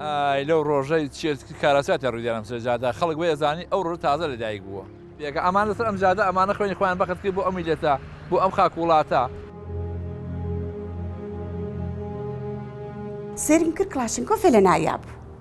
ئای لەو ڕۆژەی چێت کاراساتە ڕوودانم سەر جادا خەڵک بێ ئەزانی ئەو ڕۆژ تازە لە دایک بووە پێکە ئەمان لەسەر ئەم جادە ئەمانە خوێنی خۆیان بەخت کرد بۆ ئەم میلەتە بۆ ئەم خاک وڵاتە سێرم کرد کڵاشنکۆفێ لە ناویا بوو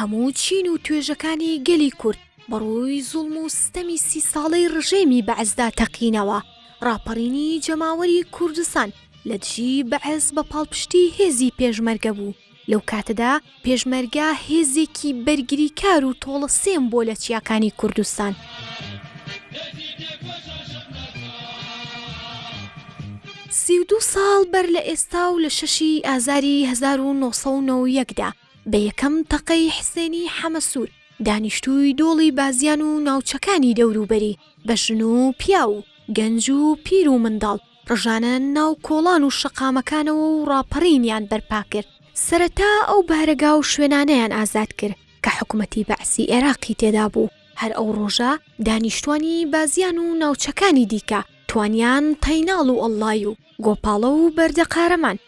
هەموو چین و توێژەکانی گەلی کورد بەڕووی زوڵم و ستەمی سی ساڵەی ڕژێمی بەعسدا تەقینەوە، ڕاپەڕینی جەماوەری کوردستان لە دژی بەعس بە پاڵپشتی هێزی پێشمەرگە بوو، لەو کاتەدا پێشمەرگە هێزێکی بەرگریکار و تۆڵە سێم بۆ لە چیاکانی کوردستان. سی و دوو ساڵ بەر لە ئێستا و لە شەشی ئازاری هەزار و نۆ سەد و نەوە و یەک دا، بە یەکەم تەقەی حسێنی حەمەسوور، دانیشتووی دۆڵی بازیان و ناوچەکانی دەوروبەری، بە ژن و پیاو و گەنج و پیر و منداڵ ڕژانە ناو کۆڵان و شەقامەکانەوە و ڕاپەڕینیان بەرپا کرد. سەرەتا ئەو بارەگا و شوێنانەیان ئازاد کرد کە حکومەتی بەعسی ئێراقی تێدا بوو. هەر ئەو ڕۆژە دانیشتووانی بازیان و ناوچەکانی دیکە توانیان تەیناڵ و ئەڵڵای و گۆپاڵە و بەردە قارەمان،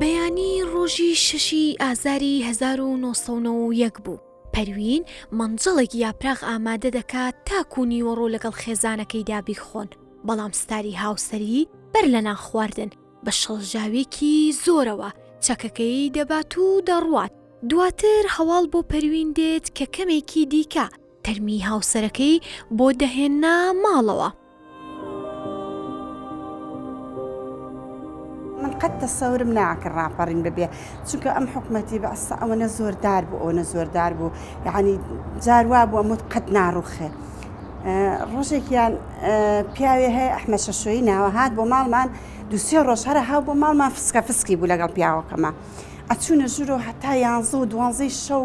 بەیانی ڕۆژی شەشی ئازاری هەزار و نۆ سەد و نەوە و یەک بوو پەروین مەنجەڵێک یاپراخ ئامادە دەکات تاکو و نیوەڕۆ لەگەڵ خێزانەکەیدا بیخۆن بەڵام ستاری هاوسەری بەر لە نانخواردن بە شڵەژاوێکی زۆرەوە چەکەکەی دەبات و دەڕوات دواتر هەواڵ بۆ پەروین دێت کە کەمێکی دیکە تەرمی هاوسەرەکەی بۆ دەهێنا ماڵەوە. من قەت تەسەورم ناکرد ڕاپەڕین ببێ چونکە ئەم حکومەتی بەسە ئەوەنە زۆردار بوو ئەوەنە زۆردار بوو یعنی جاروا بوو ئەمت قەت ناڕوخێ. ڕۆژێکیان پیاوێ هەیە ئەحمە شەشۆی ناوە هاات بۆ ماڵمان دوسێ ڕۆژ هەرە هاو بۆ ماڵمان فسکە فسکی بوو لەگەڵ پیاوەکەمە ئەچوونە ژورۆ هەتا یانزە و دوانزەی شەو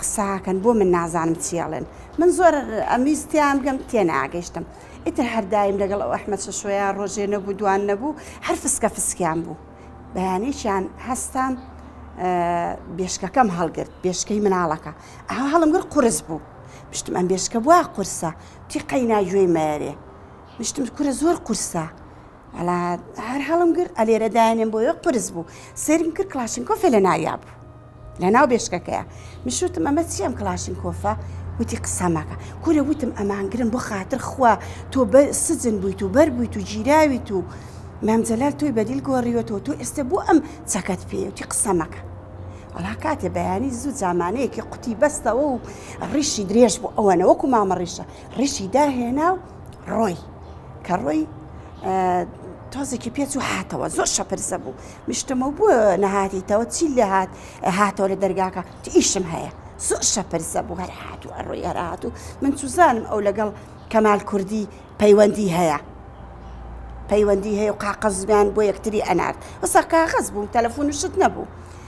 قساکەن بۆ من نازانم چیاڵێن من زۆر ئەمیستیان بگەم تێناگەشتم ئیتر هەردایم لەگەڵ ئەو ئەحمە شەشۆیە ڕۆژێ نەبوو دوان نەبوو هەر فسکە فسکیان بوو بەیانێکیان هەستام بێشکەکەم هەڵگرت بێشکەی مناڵەکە ئەها هەڵم گر قرس بوو پشتم ئەم بێشکە بووە قورسە تی قەینا گوێی مەرێ مشتم کورە زۆر قورسە وەڵا هەر هەڵم گرت ئەلێرە دایانێن بۆ یۆ قرس بوو سرم کرد کلاشنکۆفێ لە ناویا بوو لە ناو بێشکەکەیە مشوتم ئەمە چیەم کلاشنکۆفە وتی قسەمەکە کورە وتم ئەمانگرن بۆ خاتر خوا تۆ بە سجن بوویت و بەر بوویت و گیراویت و مامجلال تۆی بەدیل گۆڕیوەتەوە تۆ ئێستا بۆ ئەم چەکەت پێوتی قسەمەکە ئەڵا کاتێ بەیانی زوو جامانەیەکی قوتی بەستەوە و ڕیشی درێژ بوو ئەوەنەوەکو مامە ڕیشە ڕیشی داهێنا و ڕۆی کە ڕۆی تۆزێکی پێچ و هاتەوە زۆر شەپرسە بوو مشتمە بوو نەهاتیتەوە چی لە هاات هاتەوە لە دەرگاکە ئیشم هەیە زۆر شەپرسە بوو هەر هاات و ئەڕۆی هەرهات و من چوزانم ئەو لەگەڵ کەمال کوردی پەیوەندی هەیە پەیوەندی هەیە و قاقەزمان بۆ یەکتری ئەنارد وەسا کاغەز بوو تەلەفۆن شت نەبوو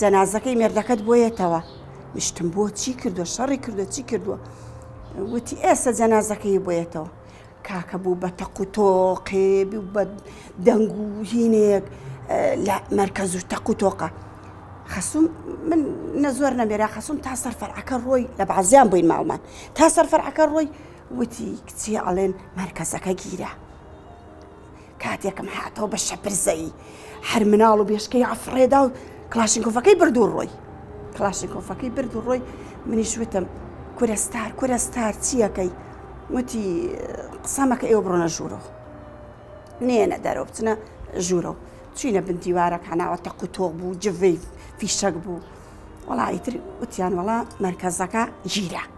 جەنازەکەی مێردەکەت بۆ یەتەوە؟ مشتم بۆ چی کردوە شەڕی کردو چی کردووە وتی ئێستا جەنازەکەی بۆ یەتەوە کاکە بوو بە تەق و تۆقێ بە دەنگ و هینێک لە مەرکەز و تەق و تۆقە خەسوم من نەزۆر نەمێرا خەسوم تا سەر فەرعەکە ڕۆی لە بەعزیان بووین ماڵمان تا سەر فەرعەکە ڕۆی وتی کچی ئەڵێن مەرکەزەکە گیرە کاتێکم هاتەوە بە شەپرزەیی هەر مناڵ و بێشکەی ئەفڕێدا و کلاشینکۆفەکەی برد و ڕۆی کلاشینکۆفەکەی برد و ڕۆی منیش وتم کورە ستار کورە ستار چییەکەی وتی قسەمەکە ئێوە بڕۆنە ژوورەوە نێنە دەرەوە بچنە ژوورەوە چینە بن دیوارەک هەناوە تەق و تۆ بوو جڤی فیشەک بوو وڵی تر وتیان وڵا مەرکەزەکە گیرە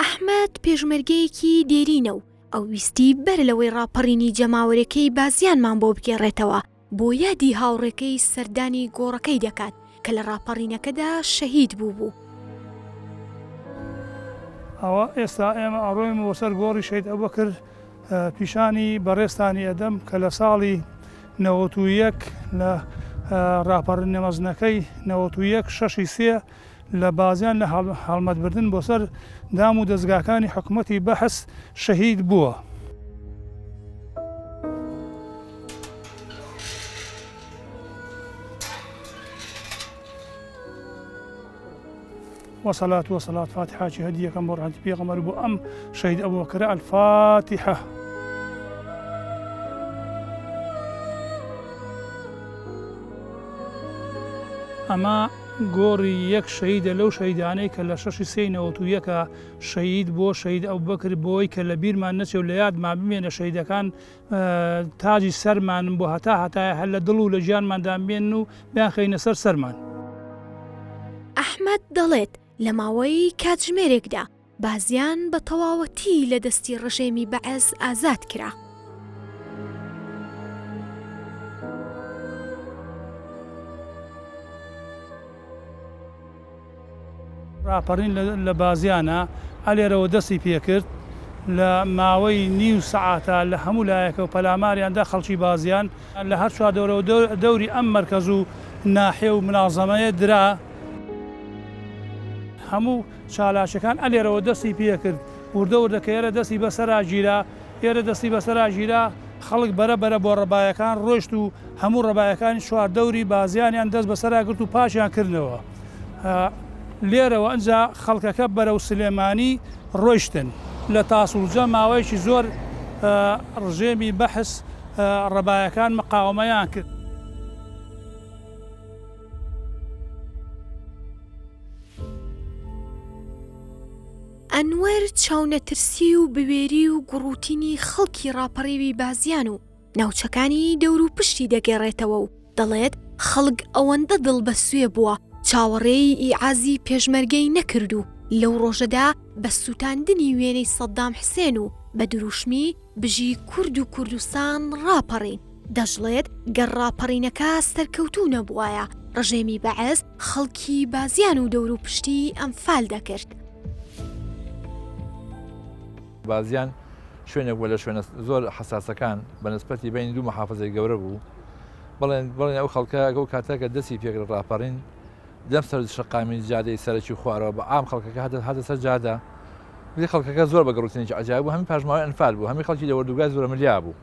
ئەحمەد پێشمەرگەیەکی دێرینە و ئەو ویستی بەر لەوەی ڕاپەڕینی جەماوەرێکەی بازیانمان بۆ بگێڕێتەوە، بۆ یادی هاوڕێکەی سەردانی گۆڕەکەی دەکات کە لە ڕاپەڕینەکەدا شەهید بووبوو. ئەوە ئێستا ئێمە ئەڕۆین بۆ سەر گۆڕی شەهید ئەبوبەکر، پیشانی بەڕێزتانی ئەدەم کە لە ساڵی نەوەت و یەک لە ڕاپەڕینە مەزنەکەی نەوەت و یەک شەش ی سێ لە بازیان لە هەڵمەت بردن بۆ سەر دام و دەزگاکانی حکومەتی بەعس شەهید بووە. وصلاة وصلاة فاتحة چی هەدیەکەم بۆ ڕەحمەتی پێغەمبەر بۆ ئەم شەهید ئەبوبەکر الفاتحە ئەمە گۆڕی یەک شەهیدە لەو شەهیدانەی کە لە شەشی سێی نەوەت و یەکا شەهید بووە شەهید ئەبوبەکر بۆی کە لە بیرمان نەچێ و لە یادمان بمێنێ شەهیدەکان تاجی سەرمانن بۆ هەتا هەتایە هەر لە دڵ و لە گیانماندا بمێنن و بیانخەینە سەر سەرمان. ئەحمەد دەڵێت لە ماوەی کاتژمێرێکدا بازیان بە تەواوەتی لە دەستی ڕژێمی بەعس ئازاد کرا. ڕاپەڕین لە بازیانا ئەلێرەوە دەستی پێکرد، لە ماوەی نیو سەعاتا لە هەموو لایەکەوە پەلاماریان دا خەڵکی بازیان، لە هەر چوار دەورەوە دەوری ئەم مەرکەز و ناحیە و منازەمەیە درا، هەموو چالاکەکان ئەلێرەوە دەستی پێکرد وردە وردە کە ئێرە دەستی بەسەرا گیرا ئێرە دەستی بەسەرا گیرا خەڵک بەرە بەرە بۆ ڕەبایەکان ڕۆشت و هەموو ڕەبایەکانی چوار دەوری بازیانیان دەست بەسەرا گرت و پاکیان کردنەوە لێرەوە ئەجا خەڵکەکە بەرەو سلێمانی ڕۆشتن لە تاسوجە ماوەیەکی زۆر ڕژێمی بەحس ڕەبایەکان مقاومەیان کرد. ئەنوەر چاونەترسی و بوێری و گوڕوتینی خەڵکی ڕاپەڕیوی بازیان و ناوچەکانی دەوروپشتی دەگێڕێتەوە و دەڵێت، خەڵک ئەوەندە دڵ بە سوێ بووە چاوەڕێی ئیعازی پێشمەرگەی نەکرد و لەو ڕۆژەدا بە سووتاندنی وێنەی سەددام حسێن و بە درووشمی بژی کورد و کوردستان ڕاپەڕین. دەشڵێت، گەر ڕاپەڕینەکە سەرکەوتوو نەبووایە، ڕژێمی بەعس خەڵکی بازیان و دەوروپشتی ئەنفال دەکرد. بازیان شوێنێک بووە لە شوێنە زۆر حەساسەکان بە نسبەتی بەینی دوو موحافزەی گەورە بوو. بڵێن بڵێن ئەو خەڵکە ئەو کاتە کە دەستی پێکرد ڕاپەڕین لەم سەر شەقامی جادەی سەرەکی خوارەوە بە عام خەڵکەکە هەدە هاتە سەر جادە. بلی خەڵکەکە زۆر بە گەڕوتنێکی عەجایب بوو، هەمی پاشماوەی ئەنفال بوو، هەمی خەڵکی لە وەردوگای زۆرەملیا بوو.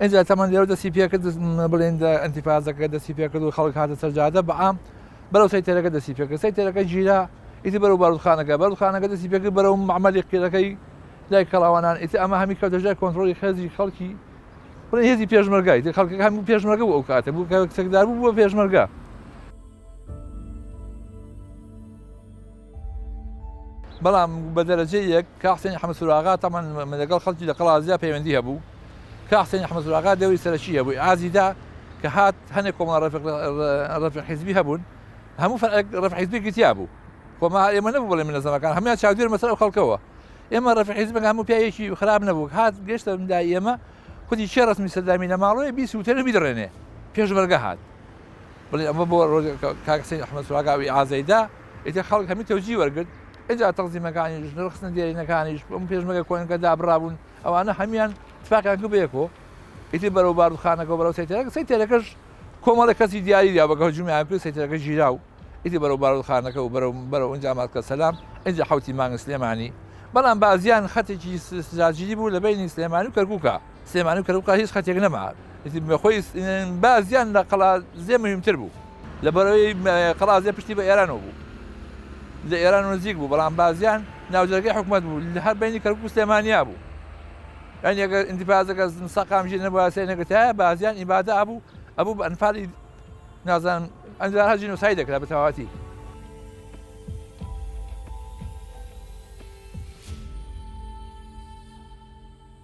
ئینجا تەمەن لێرەوە دەستی پێکرد بڵێن ئەنتیفازەکە دەستی پێکرد و خەڵک هاتە سەرجادە بەعام بەرەو سەیتەرەکە دەستی پێکرد سەیتەرەکە گیرا ئیتی بەرەو بارودخانەکە بەرخانەکە دەستی پێکرد بەرەو معمەلی قیرەکەی لای کەڵاوانان ئیتی ئەمە هەمی کەوتە ژای کۆنتترۆلی خێزی خەڵکی بڵێ هێزی پێشمەرگای خەڵکی هەموو پێشمەرگە بوو ئەو کاتە بوو کەسێکدار بوو بۆ پێشمەرگە بەڵام بە دەرەجەی یەک کاک حسێنی حەمە سوراغا تەمان لەگەڵ خەڵکی لە قەڵادزیا پەیوەندی هەبوو کاک حسێنی حەمە سوراغا دەوری سەرەکی هەبوو ئازیدا کە هات هەنێک کۆمەڵە ڕەفیق حیزبی هەبوون هەموو فەرعێک ڕەفیق حیزبێکی تیا بوو خۆما ئێمە نەبوو بڵێ منەزەمەکان هەموان چاودێر مەسەر ئەو خەڵکەوە ئێمە ڕەفیق حیزبەکە هەموو پیاوێکی خراپ نەبوو هات گەشتە دا ئێمە خودی چێ ڕسمی سەردامی لە ماڵەوەی بیسووتێنە بیدڕێنێ پێشمەرگە هات بڵێ ئەمە بۆ ڕۆژێک کاک حسین ئەحمەد سوراگاوی ئازەیدا ئیتر خەڵک هەمی تەوجی وەرگرت ئجا تەقزیمەکانیش نرخستنە دێرینەکانیش بم پێشمەگە کۆنەکە دابڕابوون ئەوانە هەمان تفاقیان کرد بەیەکۆ ئیتر بەرەو بارودخانەکە بەرەو سەیتەرەکە سەیتەرەکەش کۆمەڵە کەسی دیاری دا بەگە هەجومیان کرد سەیتەرەکە ژیرا و ئیتی بەرەو بارودخانەکە و بەرەو بەرەو ئەنجا ماسکە سەلام ئەجا حوتی مانگ سلێمانی بەڵام بازیان خەتێکی سراجیری بوو لە بینی سلێمانی و کەرکووکە سلێمانی و کەرکوک هیچ خەتێک نەما ئیتر خۆی بازیان لە قەڵادزێ مهمتر بوو لەبەرەوەی قەڵادزێ پشتی بە ئێرانەوە بوو لە ئێران نزیک بوو بەڵام بازیان ناوجەرگەی حکوومەت بوو لە هەر بینی کەرکک و سلێمانیا بوو ئەنی ئەگەر ئینتیفازەکە سەقامژی نەبووسێ نەگەتایە بازیان ئیبادە ئابوو ئەبوو بە ئەنفالی نازان ئەنجارها جینۆسای دەکرا بە تەواتی